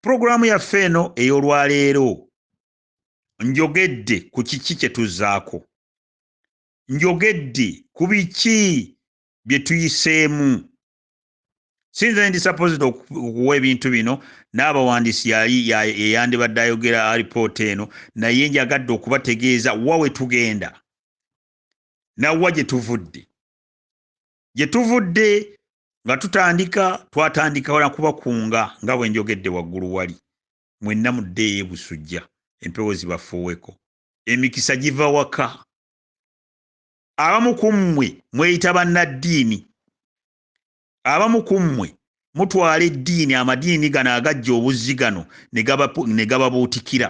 Pulogulaamu yaffe eno ey'olwaleero njogedde ku kiki kye tuzzaako. Njogedde ku biki bye tuyiseemu. Si nze ndi sapozita okuwa ebintu bino, n'abawandiisi yali yeyandibadde ayogera alipoota eno, naye njagadde okubategeeza wa we tugenda na wa gye tuvudde. gye tuvudde nga tutandika twatandika na kubakunga nga bwe njogedde waggulu wali mwenna muddeeyo ebusujja empewo zibafuuweko emikisa giva waka abamu ku mmwe mweyita bannaddiini abamu ku mmwe mutwala eddiini amadiini gano agajja obuzzi gano ne gababuutikira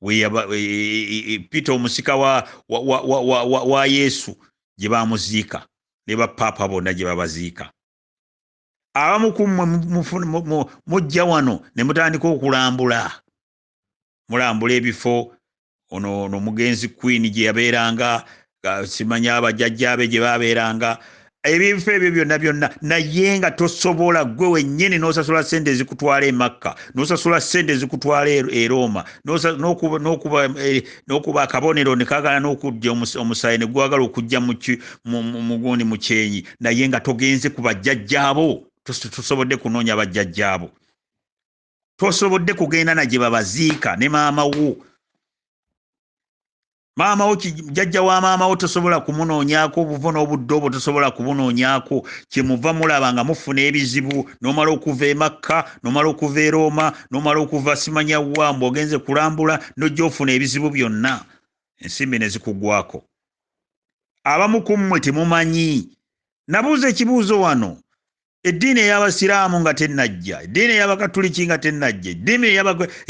weyaba e, e, e, peter omusika wa, wa, wa, wa, wa, wa, wa yesu gye bamuziika ne bapaapa bonna gye babaziika abamu ku mmwe mujja wano ne mutandika okulambula mulambula ebifo ono no mugenzi queen gye yabeeranga simanya abajajjaabe gye babeeranga ebintu ebyo byonna byonna naye nga tosobola gwe wennyini n'osasula sente ezikutwala emakka n'osasula sente ezikutwala e, e rooma n'okuba e, akabonero ne kagala n'okujja omusaayi ne gwagala okujja mugundi mu kyenyi naye nga togenze ku bajjajjaabo tosobodde kunoonya bajjajjaabo tosobodde kugenda na gye babaziika ne maama wo maama wo jajja wa maama wo tosobola kumunoonyaako obuvo n'obudde obwo tosobola kubunoonyaako kyemuva mulaba nga mufuna ebizibu nomala okuva emakka nomala okuva erooma nomala okuva simanya wa mbu ogenze kulambula nojja ofuna ebizibu byonna ensimbi ne zikugwako abamu ku mmwe temumanyi nabuuza ekibuuzo wano eddiini ey'abasiraamu nga tennajja eddiini ey'abakatuliki nga tennajja eddiini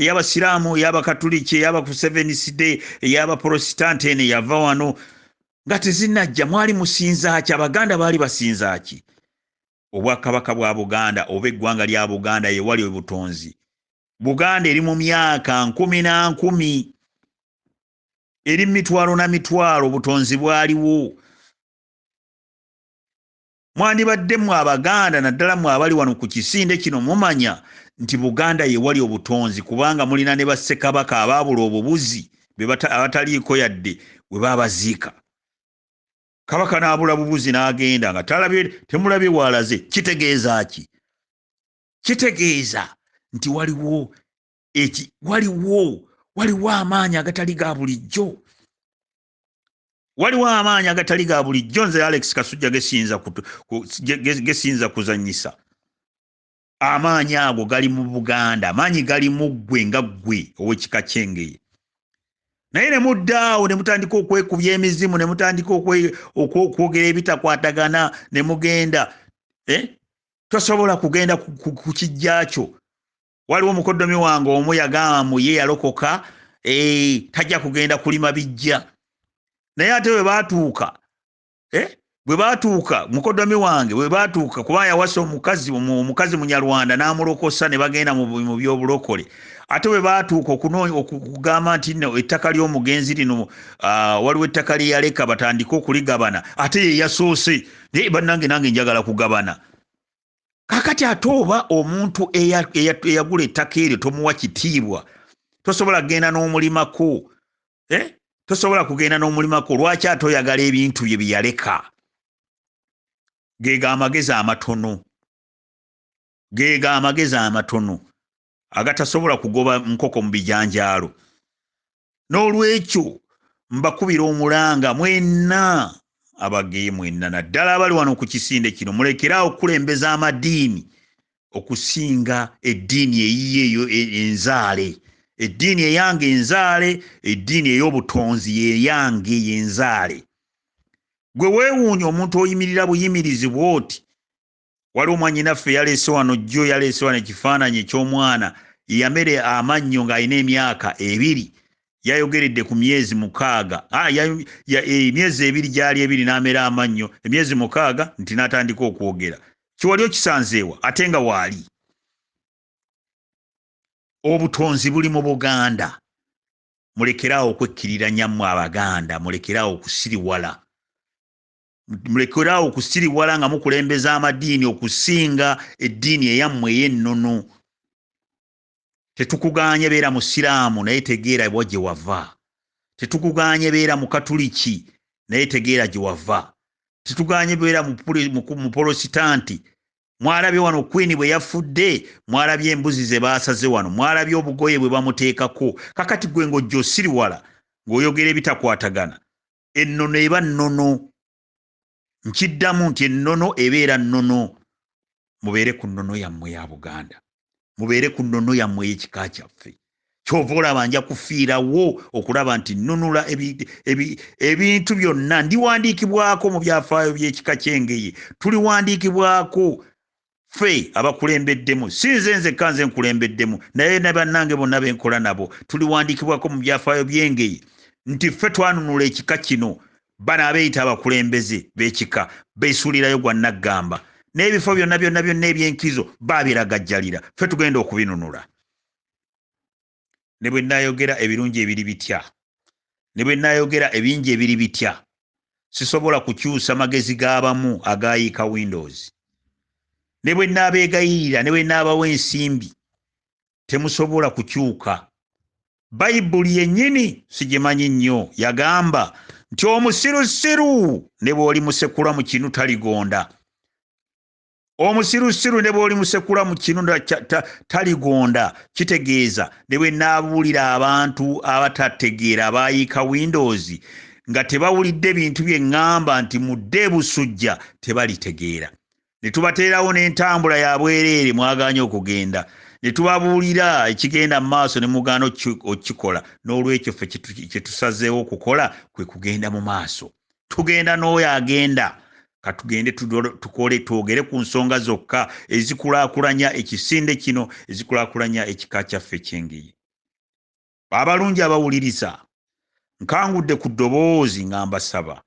ey'abasiraamu ey'abakatuliki ey'abakuseveniside ey'abaprositante eno eyava wano nga tezinnajja mwali musinzaaki abaganda baali basinzaaki obwakabaka bwa buganda oba eggwanga lya buganda yewali obutonzi buganda eri mu myaka nkumi na nkumi eri mitwalo na mitwalo obutonzi bwaliwo mwandibadde mwe abaganda naddala mwe abali wano ku kisinde kino mumanya nti buganda yewali obutonzi kubanga mulina ne bassekabaka abaabula obubuzi abataliiko yadde we babaziika kabaka n'abula bubuzi n'agenda nga talabye temulabye waalaze kitegeeza ki kitegeeza nti waliwo eki waliwo waliwo amaanyi agatali ga bulijjo waliwo amaanyi agatali ga bulijjo nze alex kasujja gesiyinza kuzanyisa amaanyi ago gali mu buganda amaanyi gali mu ggwe nga ggwe owekika kyengeye naye ne muddaawo ne mutandika okwekubya emizimu ne mutandika okwogera ebitakwatagana ne mugenda eh? tosobola kugenda ku kijja kyo waliwo mukoddomi wange omu yagamba mu ye yalokoka eh, tajja kugenda kulima bijja naye ate bwe baatuuka eh, bwe baatuuka mukoddomi wange bwe baatuuka kuba yawasa omukazi omukazi munyarwanda n'amulokosa ne bagenda mu byobulokole ate bwe baatuuka okugamba nti no ettaka ly'omugenzi lino ah, waliwo ettaka lye yaleka batandike okuligabana ate ye yasoose naye bannange nange njagala kugabana kakati ate oba omuntu eyagula ettaka eryo tomuwa kitiibwa tosobola kugenda n'omulimako eh? tosobola kugenda n'omulimako lwaki ate oyagala ebintu bye byeyaleka geega amagezi amatono geega amagezi amatono agatasobola kugoba nkoko mu bijanjaalo n'olwekyo mbakubira omulanga mwenna abageye mwenna naddala abali wano ku kisinde kino mulekeraawo okukulembeza amadiini okusinga eddiini eyiye eyo e, enzaale eddiini eyange enzaale eddiini ey'obutonzi yeyange yenzaale gwe weewuunya omuntu oyimirira buyimirizi bwoti waliwo mwanyinaffe yaleese wano jjo yaleese wano ekifaananyi eky'omwana yamere amannyo ng'alina emyaka ebiri yayogeredde ku myezi mukaaga ah, eh, emyezi ebiri gyali ebiri n'amera amannyo emyezi mukaaga nti n'atandika okwogera kiwali okisanzeewa ate nga waali obutonzi buli mu buganda mulekeraawo okwekkiriranya mmwe abaganda mulekeraawo okusiriwala mulekeraawo okusiriwala nga mukulembeza amadiini okusinga eddiini eyammwe ey'ennono tetukugaanye beera musiraamu naye tegeera wa gye wava tetukugaanye beera mukatuliki naye tegeera gye wava tetugaanye beera mupolositanti mwalabye wano kwini bwe yafudde mwalabye embuzi ze baasaze wano mwalabye obugoye bwe bamuteekako kakati gwe ng'ojja osiriwala ng'oyogera ebitakwatagana ennono eba nnono nkiddamu nti ennono ebeera nnono mubeere ku nnono yammwe ya buganda mubeere ku nnono yammwe ey'ekika kyaffe kyova olaba nja kufiirawo okulaba nti nnunula ebintu byonna ndiwandiikibwako mu byafaayo by'ekika ky'engeye tuliwandiikibwako ffe abakulembeddemu si nze nzekka nze nkulembeddemu naye ne bannange bonna be nkola nabo tuliwandiikibwako mu byafaayo by'engeye nti ffe twanunula ekika kino bano abeeyita abakulembeze b'ekika beesuulirayo gwa naggamba n'ebifo byonna byonna byonna eby'enkizo baabiragajjalira ffe tugenda okubinunula ne bwe nnaayogera ebirungi ebiri bitya ne bwe nnaayogera ebingi ebiri bitya sisobola kukyusa magezi g'abamu agaayiika windows ne bwe nnaabeegayirira ne bwe nnaabawo ensimbi temusobola kukyuka bayibuli yennyini sigimanyi nnyo yagamba nti omusirusiru ne bw'olimusekula mu kinu taligonda omusirusiru ne bw'olimusekula mu kinu taligonda kitegeeza ne bwe naabuulira abantu abatategeera abaayiika windows nga tebawulidde bintu bye ŋŋamba nti mudde busujja tebalitegeera ne tubateerawo n'entambula ya bwereere mwagaanye okugenda ne tubabuulira ekigenda mu maaso ne mugaana okukikola n'olwekyo ffe kye tusazeewo okukola kwe kugenda mu maaso tugenda n'oyo agenda katugende tukole twogere ku nsonga zokka ezikulaakulanya ekisinde kino ezikulaakulanya ekika kyaffe kyengeyi abalungi abawuliriza nkangudde ku ddoboozi nga mbasaba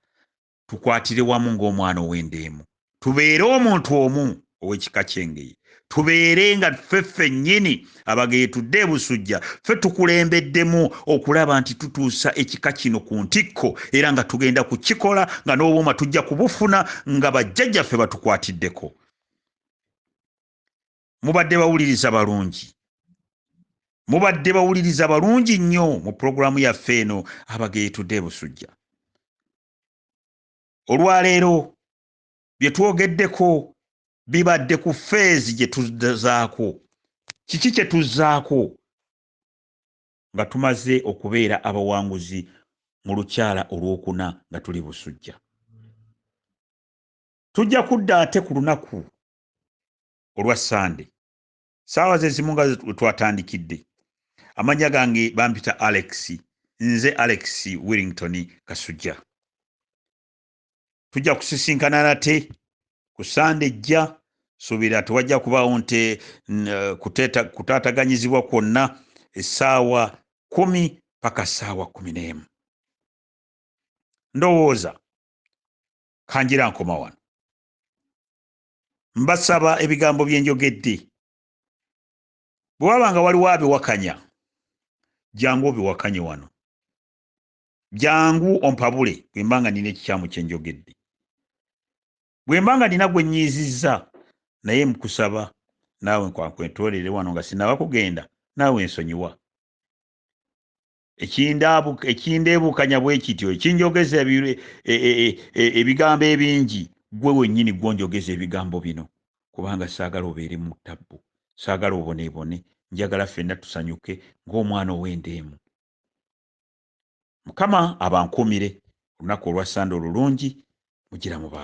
tukwatire wamu ng'omwana ow'endeemu tubeere omuntu omu ow'ekika ky'engeye tubeere nga ffe ffennyini abageye tudde ebusujja ffe tukulembeddemu okulaba nti tutuusa ekika kino ku ntikko era nga tugenda ku kikola nga n'obuuma tujja kubufuna nga bajjajjaffe batukwatiddeko mubadde bawuliriza balungi mubadde bawuliriza balungi nnyo mu pulogulaamu yaffe eno abageye tudde ebusujja olwaleero bye twogeddeko bibadde ku feezi gye tuzaako kiki kye tuzzaako nga tumaze okubeera abawanguzi mu lukyala olwokuna nga tuli busujja tujja kudda ate ku lunaku olwa sande saawa zezimu nga wetwatandikidde amanya gange bampita alex nze alex willington kasujja tujja kusisinkana nate ku sande ejja suubira tewajja kubaawo nte kutaataganyizibwa kwonna essaawa kumi paka ssaawa kumi n'emu ndowooza kanjira nkoma wano mbasaba ebigambo bye njogedde bwe waba nga waliwo abiwakanya jangu obiwakanye wano jangu ompabule bwe mba nga nina ekikyamu kye njogedde bwe mba nga nina gwe nyiizizza naye nkusaba naawe nkwankwentolere wano nga sinaba kugenda naawe nsonyiwa ekindeebukanya bwe kityo ekinjogeza e, e, e, ebigambo ebingi gwe wennyini gwonjogeza ebigambo bino kubanga saagala obeere mu ttabbu saagala oboneebone njagala ffenna tusanyuke ng'omwana ow'endeemu mukama abankuumire olunaku olwa sande olulungi mugira mu ba